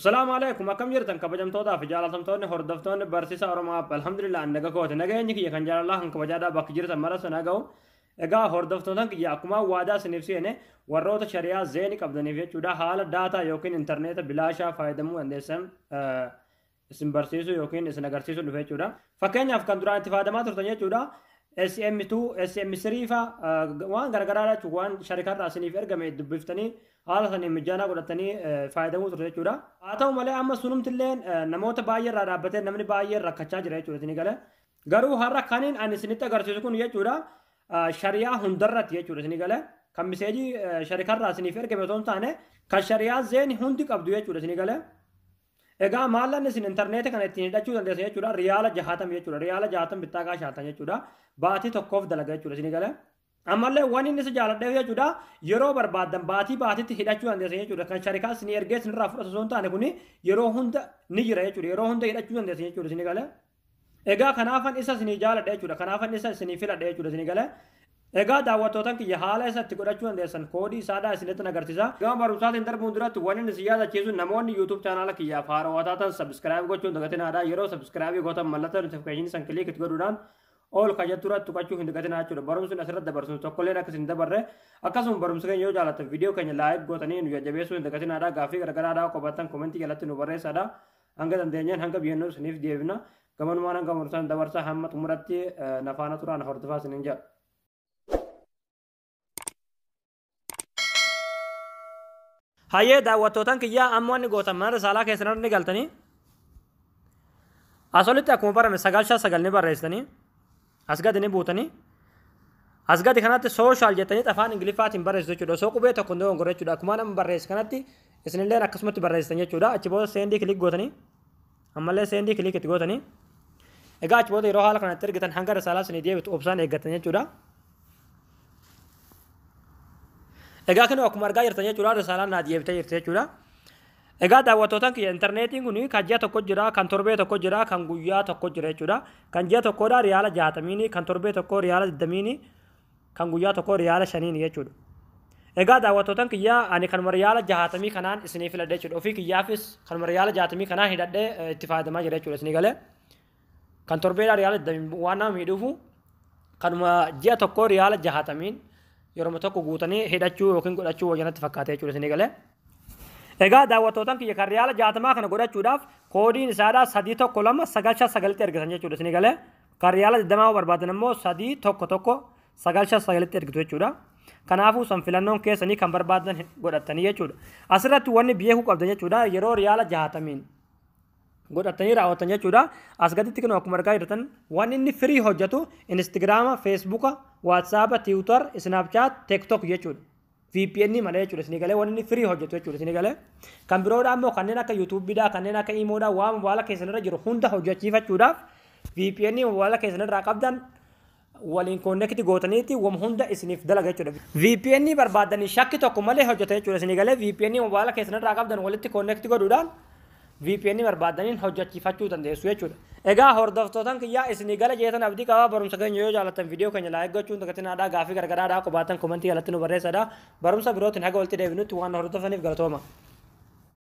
Salaamu alaikum akkam jirtan kabajamtootaa fi jaalatamtoonni hordoftoonni barsiisa Oromaa alhamdulillah naga kooti nageenyi kiyya kan jaalalaa kan kabajaadhaa bakki jirtan mara sana ga'u egaa hordoftootan kiyya akkuma waadaa isiniif seene warroota shari'aa zeeni qabdaniif jechuudha haala daataa yookiin intarneeta bilaashaa fayyadamuu dandeessan isin barsiisuu yookiin isin agarsiisuu dhufe jechuudha. Fakkeenyaaf kan duraan itti fayyadamaa turtan jechuudha. SM2, SM3 fa waan garaagaraa jechuun waan sharikarraa isiniif ergame dubbiftanii haala saniin mijaanaa godhatanii fayyadamuu turte jechuudha. Haa ta'u malee amma sunumtillee namoota baay'ee irraa dhaabbatee namni baay'ee rakkachaa jira jechuudha isinii galee. Garuu har'a kaniin ani isinitti agarsiisu kun jechuudha shariyaa hundarratti jechuudha isinii galee. Kan miseejii sharikarraa isiniif ergame otoo hin taane kan shariyaa zeeni hundi qabdu jechuudha isinii galee. Egaa maallan isin intarneetii kana ittiin hidhachuu dandeessan jechuudha riyaala jahaatama jechuudha riyaala jahaatama bittaa gaa shaantan jechuudha baatii tokkoof dalaga jechuudha isin galee. Ammallee waan inni si jaaladheef jechuudha yeroo barbaaddan baatii baatiitti hidhachuu dandeessan jechuudha kan sharikaa isin ergee isinirraa fudhatu osoo hin taane kuni yeroo hunda ni jira jechuudha yeroo hunda hidhachuu dandeessan jechuudha isin galee. Egaa kanaafan isa isinii jaaladha jechuudha. Kanaafan isa isinii filadha jechuudha isinii galee. Egaa daawwattootan kiyya haala isa itti godhachuu dandeessan koodii isaadhaa isinitti nagarsiisa. Gama barumsaatiin darbuun duratti wannin isin yaadachiisu namoonni YouTube chaanaala kiyyaaf haarawaa taatan subscribe gochuun dagatinaadha. Yeroo subscribe gootan mallattoo notification san click itti godhuudhaan all ka jettu irratti tuqachuu hin dagatinaa jechuudha. Barumsi asirratti dabarsinu tokkolleen akka isin dabarre akkasuma barumsa keenya yoo jaallattan viidiyoo keenya like gootanii nu jajjabeessuu hin dagatinaadha. Gaaffii garagaraadhaa qobattan komentii jalatti nu barreessaadha. Hanga dandeenyeen hanga biyyannoo isiniif deebina. Gamanumaan hanga murtan dabarsaa hamma xumuratti nafaana turaan hordofaa isiniin jedha. Hayyee daawwattootaan kiyyaa amma wanni gootan mana saalaa keessan irra ni galtanii. Asolitti akkuma barame sagal shan sagal ni barreessitanii. Asgad ni buutanii asgadi kanatti social jettanii afaan ingiliffaatiin barreessu jechuudha osoo qubee tokko hin dogongorre jechuudha akkuma nama barreesse kanatti isinillee akkasumatti barreessitan jechuudha achi booda seendii kilik gootanii ammallee seendii kilik itti gootanii egaa achi booda yeroo haala kanatti ergitan hanga risaalaa isinii deebitu obsaan eeggatan jechuudha. Egaa kun akkuma argaa jirtan jechuudha risaalaan naa deebitee jirti jechuudha. Egaa daawwattootan kiyya interneetiin kun kan ji'a tokko jira, kan torbee tokko jira, kan guyyaa tokko jira jechuudha. Kan ji'a tokkoodha riyaala jaatamiini, kan torbee tokko riyaala digdamiini, kan guyyaa tokko riyaala shaniini jechuudha. Egaa daawwattootan kiyya ani kanuma riyaala jaatamii kanaan isiniif filadhe jechuudha. Ofii kiyyaafis kanuma riyaala jaatamii kanaan hidhadhee itti fayyadamaa jira jechuudha isinii galee. kan torbeedhaa riyaala waan nama miidhuufu kanuma ji'a tokkoo riyaala jahatamiin yeroo tokko guutanii hidhachuu yookiin godhachuu wayyanatti fakkaatee jechuudha isin eegalee. Egaa daawwattootan kiyya kan riyaala jahatamaa kana godhachuudhaaf koodiin isaadhaa sadii tokko lama sagal shan sagalitti ergitan jechuudha isin eegalee. Kan riyaala digdamaa barbaadan immoo sadii tokko tokko sagal shan sagalitti ergitu jechuudha. Kanaafuu san filannoon keessanii kan barbaadan godhattanii jechuudha. Asirratti wanni beekuu qabdan jechuudha yeroo riyaala jahatamiin godhattanii raawwattan jechuudha. As gaditti kun akkuma argaa jirtan waan inni firii hojjetu Instagiraama, Feesbuuka, Waatsaapa, Tiwutar, Isnaapchaat, Teektook jechuudha. VPN malee jechuudha isin galee waan inni firii hojjetu jechuudha isin galee. Kan biroodhaa immoo kanneen akka yuutuubiidhaa kanneen akka iimoodhaa waan mobaala keessan irra jiru hunda hojjechiifachuudhaaf VPN mobaala keessan irraa qabdan waliin connect gootaniiti wam hunda isiniif dalaga jechuudha. VPN barbaaddanii shakki tokko malee hojjeta jechuudha isinii galee VPN mobaala keessan irraa qabdan walitti connect godhuudhaan VPN barbaaddaniin hojjechiifachuu dandeessu jechuudha. Egaa hordoftootan kiyyaa isinii gala jeetan abdii qabaa barumsa keenya yoo jaallattan viidiyoo keenya laayik gochuun dagatinaadhaa gaafii gargaraadhaa qobaatan komentii jalatti nu barreessadha. Barumsa birootiin haga walitti deebinutti waan hordoftaniif galatooma.